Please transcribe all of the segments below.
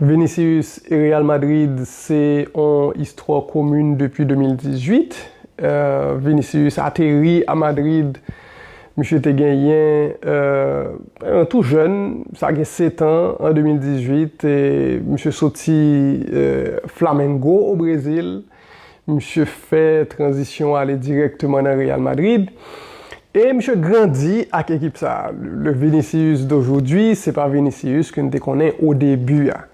Vinicius e Real Madrid se on istwa komin depi 2018. Vinicius ateri a Madrid, misye te genyen an tou jèn, sa gen setan an 2018, misye soti Flamengo o Brezil. Misye fè tranzisyon ale dirèkteman nan Real Madrid e misye grandi ak ekip sa. Le Vinicius d'aujourd'hui se pa Vinicius ke n te konnen o debi a.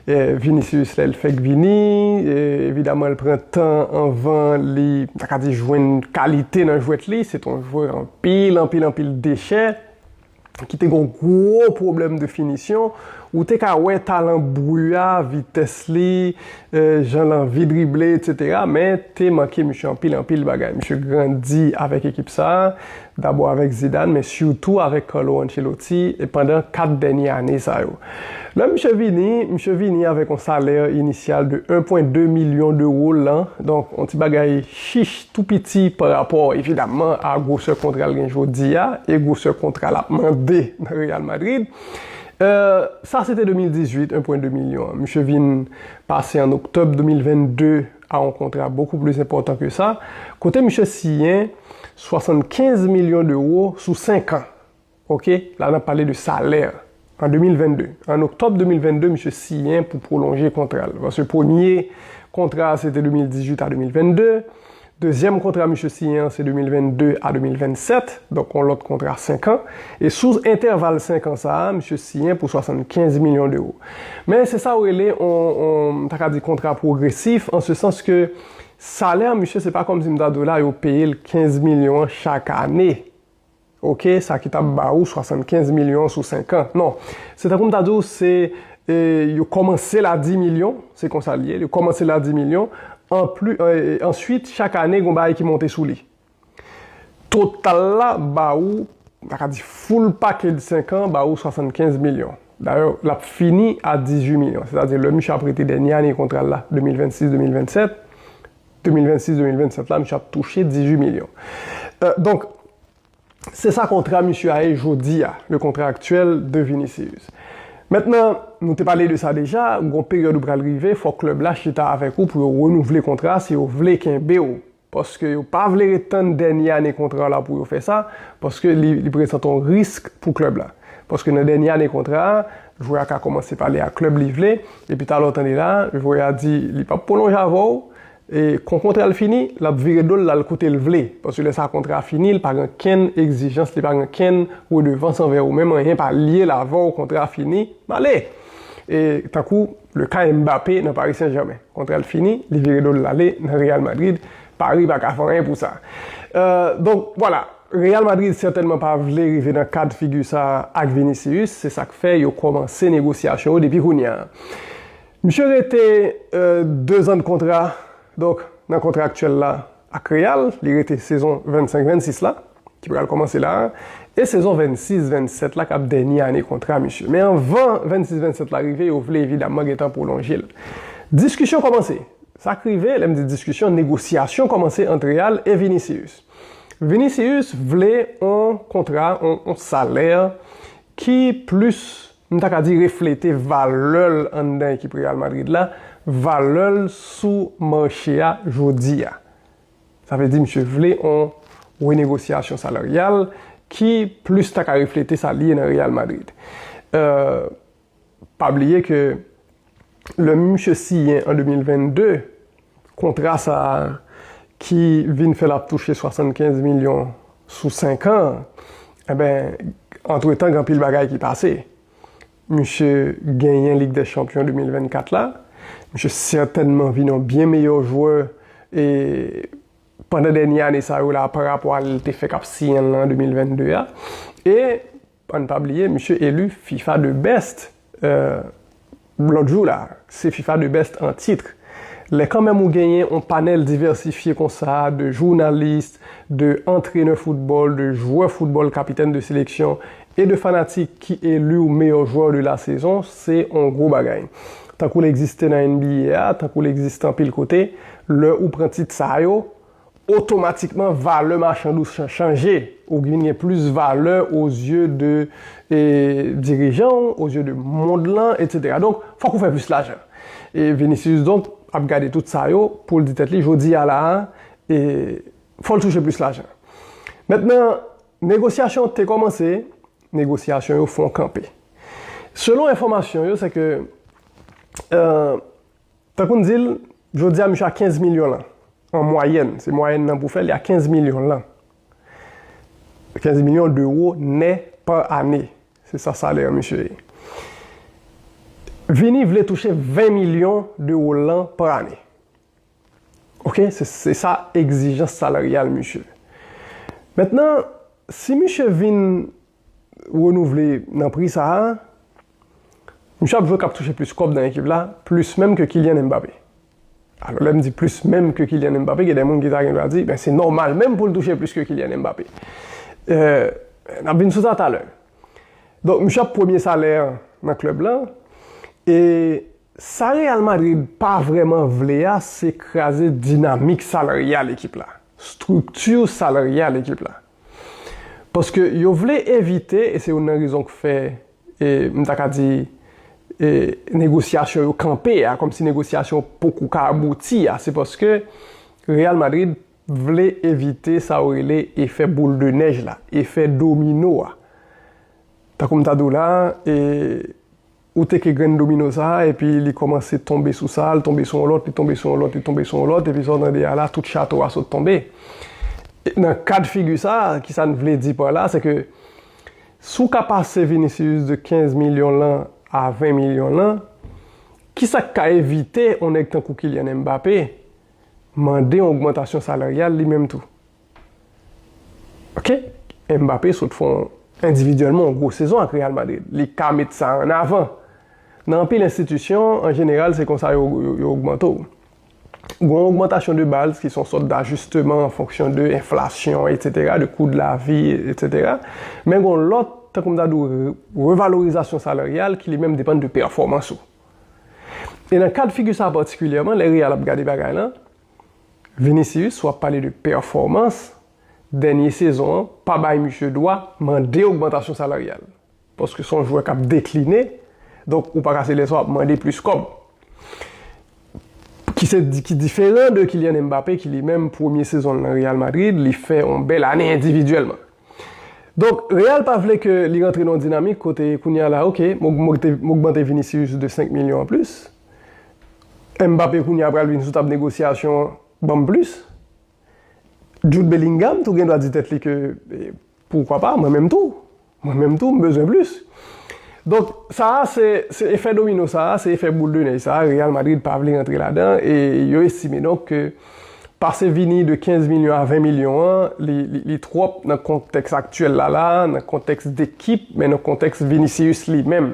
Vinicius lè l fèk vini, evidaman l pran tan anvan li, m ta ka di jwenn kalite nan jwèt li, se t on jwè anpil anpil anpil dechè. ki te gen yon gwo pwoblèm de finisyon, ou te ka wè talan Bru a, vitès li, jan l anvi drible eksetera, men te manke misye anpil anpil bagay. Misye grandi avèk ekip sa, dabò avèk Zidane, men sitou avèk Carlo Ancelotti pandan 4 dènye ane sa yo. Lè misye vini, misye vini avèk yon salè inisyal de 1,2 milyon dewo lan, donk yon ti bagay chich. tou piti pa rapò evidamman a gwosè kontra l gen jodi a e gwosè kontra l ap mande nan Real Madrid. Sa se te 2018, 1,2 milyon an. Misye vin pase an oktòb 2022 a yon kontra bokou plis enpòtan ke sa, kote misye siyen 75 milyon dewo sou senkan. Ok, la nap pale de salè an 2022, an oktòb 2022 misye siyen pou pwolonje kontra l, paske premye kontra a se te 2018 a 2022, dezyèm kontra misye siyen an se 2022 a 2027, donk yon lòt kontra 5 an, e sou entèval 5 an sa a misye siyen pou 75 milyon dewo. Men se sa yo rele yon, m ta ka di kontra pwogresif, an se sans ke salè misye se pa kòmsi m ta di w la yo peye l 15 milyon an chak ane, Ok, sa ki tap ba ou 75 milyon sou 5 an. Non, se tankou m ta di ou se yo kòmanse l a 10 milyon, se konsa li ye, yo kòmanse l a 10 milyon, anpli, answit chak ane gen yon bagay ki monte sou li. Total la ba ou, m ta ka di full package 5 an ba ou 75 milyon. Dayè, l ap fini a 18 milyon, sètadi lè misye ap rete dènye ane kontra l la, 2026, 2027, 2026, 2027 la misye ap touche 18 milyon. Donk, se sa kontra misye a ye jodi a, le kontra aktyèl de Vinicius. Mentnan, nou te pale de sa deja, gon peryòd ou pral rive, fòk klèb la chita avèk ou pou yo renouvle kontra a si yo vle kenbe w. Paske yo pa vle ret tann dènye ane kontra w la pou yo fè sa, paske li prezante yon risk pou klèb la. Paske nan dènye ane kontra a, Jwè a ka kòmanse pale ak klèb li vle, epi talè w tande la, jwè a di li pap pwolonje avè w, e kon kontra l fini, l ap vire do l l al kote l vle, paske lè sa kontra a fini, l pa gen kenn egzijans, li pa gen kenn redevans anvè ou menm, anyen pa lye l avè w, kontra a fini, m ale! E tankou le ka Mbappé nan Paris Saint-Germain, kontra l fini, li vire do l l ale nan Real Madrid, Paris pa ka fè anyen pou sa. Donk, vwala, Real Madrid sètènman pa vle rive nan ka d'figi sa a ak Vinicius, se sa k fè yo kòmanse negosyasyon yo depi kounya. Misye rete dezan de kontra, donk nan kontra aktyèl la ak Real, li rete sezon 25-26 la. ki pral kòmanse la a, e sezon 26, 27 la k ap dènye ane kontra misye. Men anvan 26, 27 la rive yo vle evidamman gen tan pwolonje l. Diskisyon kòmanse. Sa k rive, lè m di diskisyon, negosyasyon kòmanse ant Real e Vinicius. Vinicius vle on kontra, on salè ki plis, m ta ka di reflete valè l anndan ekip Real Madrid la, valè l sou mache a jodi a. Sa vle di misye vle on renegosyasyon salaryal ki plis ta ka reflete sa li ye nan Real Madrid. Pa bliye ke lè misye siyen an 2022, kontra sa a ki vin fè l ap touche 75 milyon sou 5 an, antre tan gen anpil bagay ki pase. Misye genyen Lig dè Chanpyon 2024 la. Misye sètènman vin yon byen meyè jwè e pandan dènye ane sa yo la parapò a li te fè k ap siyen l lan an 2022 a. E an n pa bliye misye eli fifa de best lòt jou la. Se fifa de best an tit. Lè kanmèm ou genyen yon panèl divèsifye konsa de jounalis, de antrenè foutbòl, de jwè foutbòl, kapitèn de seleksyon E de fanatik ki eli w meyò jwè de la sezon, se on gwo bagay. Tankou l egziste nan NBA a, tankou l egziste anpil kote, lè ou pran tit sa yo, otomatikman valè machand ou chanje, ou vin gen plis valè ozye de dirijan w, ozye de mond lan, etsetera. Donk, fòk ou fè plis lajan. E Vinicius donk ap gade tout sa yo pou l di tèt li, jodi a la a, fò l touche plis lajan. Mentnan. Negosyasyon te kòmanse, negosyasyon yo fon kanpe. Selon enfòmasyon yo se ke tankou n di l jodi a misye a 15 milyon lan an mwayèn, se mwayèn lan pou w fè li a 15 milyon lan, 15 milyon dewo nè pa ane, se sa salè an misye ye. Vini vle touche 20 milyon dewo lan pa ane. Ok se sa egzijans salaryal misye. Mentnan si misye vin renouvle nan pri sa a, misye ap jwe kap touche plis kòb nan ekip la, plis menm ke Kylian Mbappé. Alò lè m di plis menm ke Kylian Mbappé gen de moun ki ta gen dwa di ben se nòmal menm pou l touche plis ke Kylian Mbappé. N ap vin sou sa talè. Donk misye ap premye salè nan klèb la e Sa Real Madrid pa vrèman vle a se kraze dinamik salaryal ekip la, strikti salaryal ekip la. Paske yo vle evite, e se youn nan rezon k fè m ta ka di negosyasyon yo kanpe a, kòmsi negosyasyon poko ka abouti a, se paske Real Madrid vle evite sa yo rele efè boul de nèj la, efè domino a. Tankou m ta di w la, Ou teke grenn domino sa a epi li kòmanse tonbe sou sa a, l tonbe sou yon lòt, li tonbe sou yon lòt, li tonbe sou yon lòt epi sa w tande a la tout chato a sot tonbe. Nan ka de figi sa a, ki sa n vle di pa la, se ke si w ka pase Vinicius de 15 milyon lan a 20 milyon lan, ki sa k ka evite yon nèg tankou Kylian Mbappé mande yon ogmantasyon salaryal li menm tou? Ok, Mbappé sot fè yon endividyèlman yon gwo sezon ak Real Madrid, li ka met sa an avan. Nan anpil enstitisyon, an jeneral se konsa yo ogmante w. Gen yon ogmantasyon de baz ki se yon sòt dajisteman an fonksyon de enflasyon etsetera, de kou de lavi etsetera, men gen yon lòt, tankou m ta di w, revalorizasyon salaryal ki li menm depann de pèfòmans ou. E nan kad figi sa patikilyèman, lè Real ap gade bagay lan, Vinicius wap pale de pèfòmans dènye sezon an pa bay misye dwa mande ogmantasyon salaryal paske son jwè kap dekline donk ou paka se lèsa wap mande plis kòb ki se ki diferan de Kylian Mbappé ki li menm premye sezon nan Real Madrid li fè yon bèl ane endividyèlman donk Real pa vle ke li rantre nan yon dinamik kote kounya la ok m ogmante Vinicius de 5 milyon anplis Mbappé kounye a pral vin sou tab negosyasyon an banm plis. Jude Bellingham tou gen dwa di tèt li ke poukwa pa mwen menm tou. Mwen menm tou m bezwen plis. Donk sa a se efè domino sa a, se efè boul de nèj sa a Real Madrid pa vle rantre ladan e yo estime donk ke pase Vini de 15 milyon a 20 milyon an li twòp nan kontèks aktyèl la la, nan kontèks dekip men nan kontèks Vinicius li menm.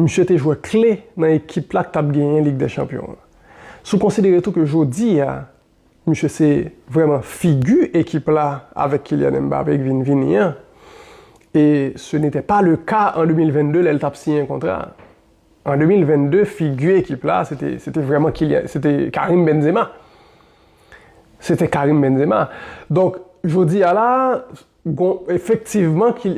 Misye te jwè kle nan ekip la k t ap genyen Lig dè Chanpyon an. Si w konsidere tou ke jodi a, misye se vrèman figi ekip la avèk Kylian Mbappé ki vin vini an, e se netè pa le ka an 2022 lè l t ap siyen kontra a. An 2022, figi ekip la se te, se te vrèman Kylian, se te Karim Benzema. Se te Karim Benzema. Donk, jodi a la a, Gon efektivman ki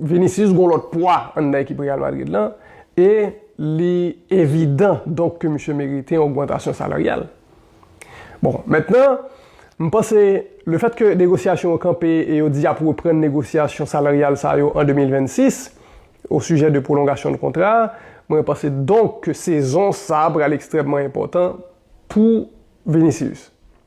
Vinicius gon lòt pwa anndan ekip Real Madrid lan e li evidan donk ke misye merite yon ogmantasyon salaryal. Bon, mentnan, m panse le fèt ke negosyasyon yo kanpe e yo di y ap reprann negosyasyon salaryal sa yo an 2026 osijè de pwolongasyon de kontra a, mwen panse donk ke sezon sa pral ekstrèmman enpòtan pou Vinicius.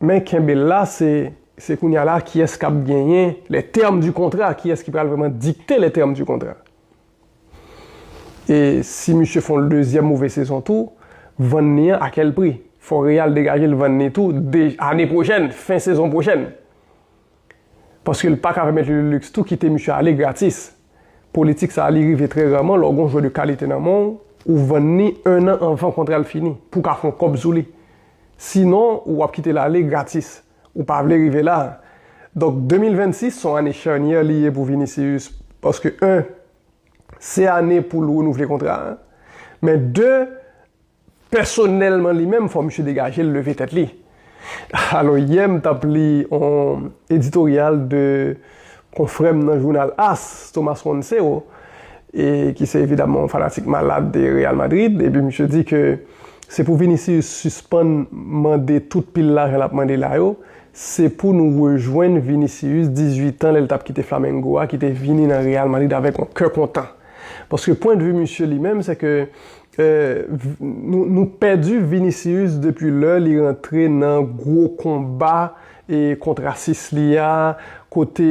Men kenbe la se se kounya la kiyès kap genyen les termes du contrat kiyès ki pral vrèman dikte les termes du contrat e si misye fon l dezyèm move sezon tou vann ni an a kèl pri fò real degaje l vann ni tou de ane pwochèn fen sezon pwochèn. paske l paka pèmèt li leliks tou kite misye ale gratis. Politik sa li rive trè raman lè w gon jwè de kalite nan men w, ou vann li 1 an anvan kontra l fini pou w ka fè yon kòb sou li. Sinon ou ap kite l ale gratis. Ou pa vle rive la. Donk 2026 se yon ane charnyè li ye pou Vinicius paske 1 se ane pou l renouvle kontra a, men 2 Pèsonèlman li menm fò misye degaje l leve tèt li. Alò yè m t ap li on editoryal 2 konfrè m nan jounal as, Thomas Montseau, e ki se evidamman on fanatik malad de Real Madrid, epi misye di ke se pou Vinicius sispann mande tout pil lajan l ap mande la yo, se pou nou rejwenn Vinicius 18 an lè l t ap kite Flamengo a ki te vini nan Real Madrid avèk on kè kontan. Paske pwendvi misye li menm se ke Nou pèdi Vinicius depi lè li rantre nan gwo konba kont rasis li a, kote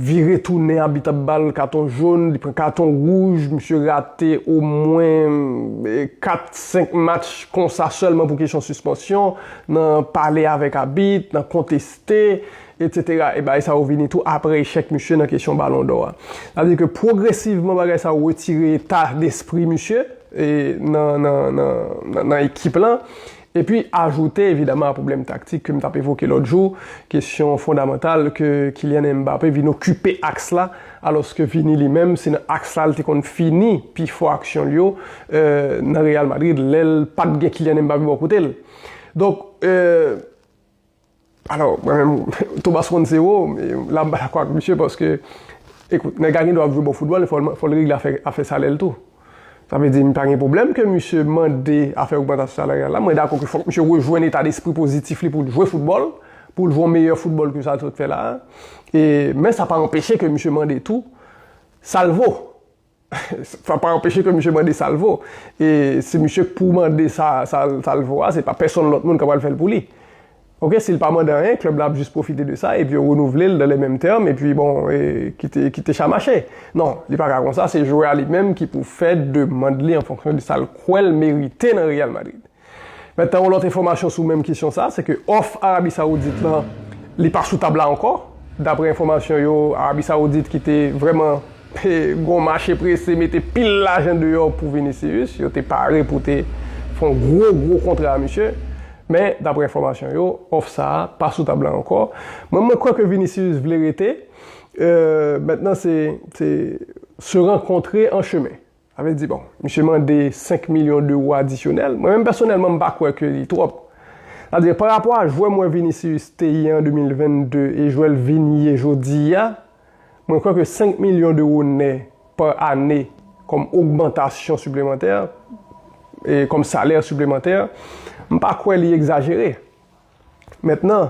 vire tounen abit ap ba l katon jón, li pran katon wouj, misye rate omwen 4, 5 match konsa sèlman pou kesyon sispansyon, nan pale avèk abit, nan konteste, Etc e bagay sa yo vini tou apre echèk misye nan kesyon balon dò a. Sa vle di ke pwogresivman bagay sa yo retire eta despri misye e nan ekip lan epi ajoute evidaman a pwoblèm taktik ke m t ap evoke lòt jou, kesyon fondamantal ke Kylian Mbappé vin okipe aks la alòske Vini li menm se nan aks la li te konn fini pi fò aksyon l yo nan Real Madrid lè l pa t gen Kylian Mbappé bò kote l. Donk. Alò, mwen menm, Thomas konn se wou, la m pa dakò ak misye paske, ekout, nèg la gendwa ap jwe bon foutbòl men fò l regle afè afè salè l tou. Sa vle di m pa gen pwoblèm ke misye mande afè ogmantasyon salariyal la, mwen dakò ke fòk misye rejwenn eta despri pozitif li pou l jwe foutbòl, pou l jwe yon meyè foutbòl ke sa l sot fè la a, e men sa pa anpeche ke misye mande tou sa l vo. Sa pa anpeche ke misye mande sa l vo. E se misye k pou mande sa sa l vo a, se pa pèsonn lòt moun k apral fè l pou li. Ok, si l pa mande anyen, klèb la ap jis pwofite de sa, epi yo renouvle l dan le menm tèm, epi bon, kite cha mache. Non, li pa ka konsa, se jwè a li menm ki pou fè demand li an fonksyon de sa l kwè l merite nan Real Madrid. Metan yon lòt enfòmasyon sou menm kesyon sa, se ke òf Arabi Sawoudit lan, li pa sou tab la ankò. Daprè enfòmasyon yo, Arabi Sawoudit ki te vrèman gen yon mache prese mete pil lajan deyò pou Vinicius, yo te pare pou te fè yon gwo gwo kontra a misye, men daprè enfòmasyon yo, òf sa a pa sou tab la ankò. Mwen mwen kwè ke Vinicius vle rete, metan se se rankontre an chemen. Sa vle di bon, misye mande 5 milyon dewo adisyonèl. Mwen menm pèsonèlman m pa kwè ke li twòp. Sa vle di pa rapò a jwè mwen Vinicius te ye an 2022 e jwè l vin ye jodi a, mwen kwè ke 5 milyon dewo nè pa ane kòm ogmantasyon siplemantè, kòm salè siplemantè, m pa kwè li egzajere. Mentnan,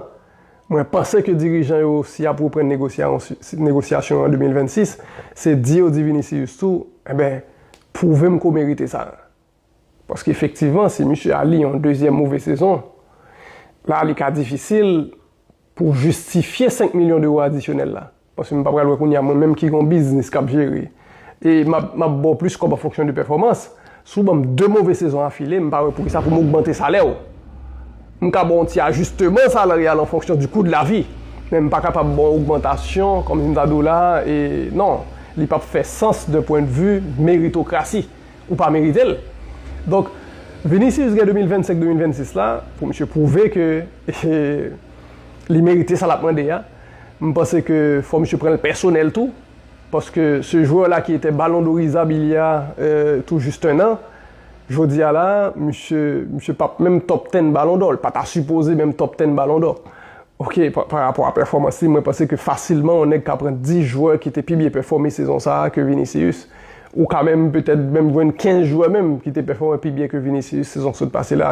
mwen panse ke dirijan yo si yap reprann negosyasyon an 2026, se di yo di Vinicius tou, enben, pwouve m ke w merite sa. Paske efektivman, si misye a li yon dezyèm move sezon, la li ka difisil pou w jistifye 5 milyon dewo adisyonèl la. Paske m pa pral wè kounye a mwen menm ki gen yon biznis k ap jere e m ap m ap ba w plis kòb an fonksyon de pèfòmans. Si w ban m de move sezon afile, m pa wè poukisa pou m ogmante salè w. M ka ba w yon ti ajisteman salaryal an fonksyon di kou de lavi, men m pa kapab ba w ogmantasyon kòm si m ta di w la a e non, li p ap fè sans dun pwen de vu meritokrasi. Ou pa merite l. Donk, Vinicius gen 2025, 2026 la pou misye pwouve ke li merite sa l ap mande a. M panse ke fò misye pranl pèsonèl tou, paske se jwè la ki etè balon doriza bilye a tou jis 1 an, jodi a la misye misye pap menm top 10 balon dò, l pa ta sipoze menm top 10 balon dò ok pa rapò a pèfòmans li mwen panse ke fasilman yon nèg ka pran 10 jwè ki te pi byen pèfòme sezon sa a ke Vinicius ou ka menm petèt menm jwenn 15 jwè menm ki te pèfòme pi byen ke Vinicius sezon k sot pase la.